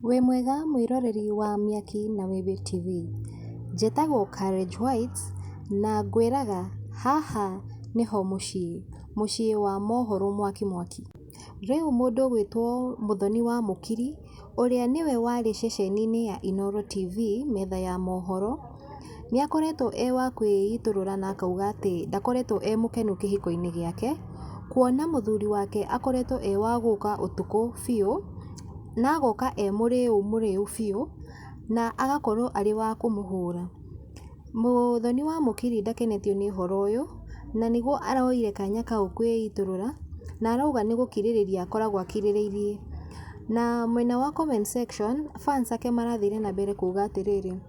Wĩ mwega mwĩroreri wa Mĩaki na Wĩwĩ TV? Njĩtagwo Courage White, na ngwĩraga haha nĩho mũciĩ, mũciĩ wa mohoro mwaki mwaki. Rĩu mũndũ ũgwĩtwo Mũthoni wa Mũkiri, ũrĩa nĩwe warĩ ceceni-inĩ ya Inooro TV, metha ya mohoro, Nĩ akoretwo e wa kwĩitũrũra na akauga atĩ ndakoretwo e mũkenu kĩhiko-inĩ gĩake, kuona mũthuri wake akoretwo e wa gũka ũtukũ biũ, na agoka e mũrĩu mũrĩu biũ, na agakorwo arĩ wa kũmũhũra. Mũthoni wa mũkiri ndakenetio nĩ ũhoro ũyũ, na nĩguo aroire kanya kau kwĩitũrũra, na arauga nĩ gũkirĩrĩria akoragwo akirĩrĩirie. Na mwena wa comment section, fans ake marathire na mbere kuga atĩrĩrĩ.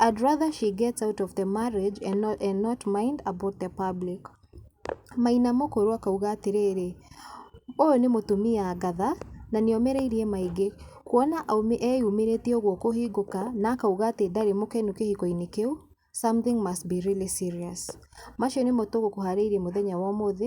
I'd rather she gets out of the marriage and not and not mind about the public. Maina Mũkũrũ akauga atĩrĩrĩ, ũyũ nĩ mũtumia ngatha na nĩ omĩrĩirie maingĩ, kuona eyumĩrĩtie ũguo kũhingũka na akauga atĩ ndarĩ mũkenu kĩhiko-inĩ kĩu, something must be really serious. Macio nĩmo tũgũkũharĩirie mũthenya wa ũmũthĩ.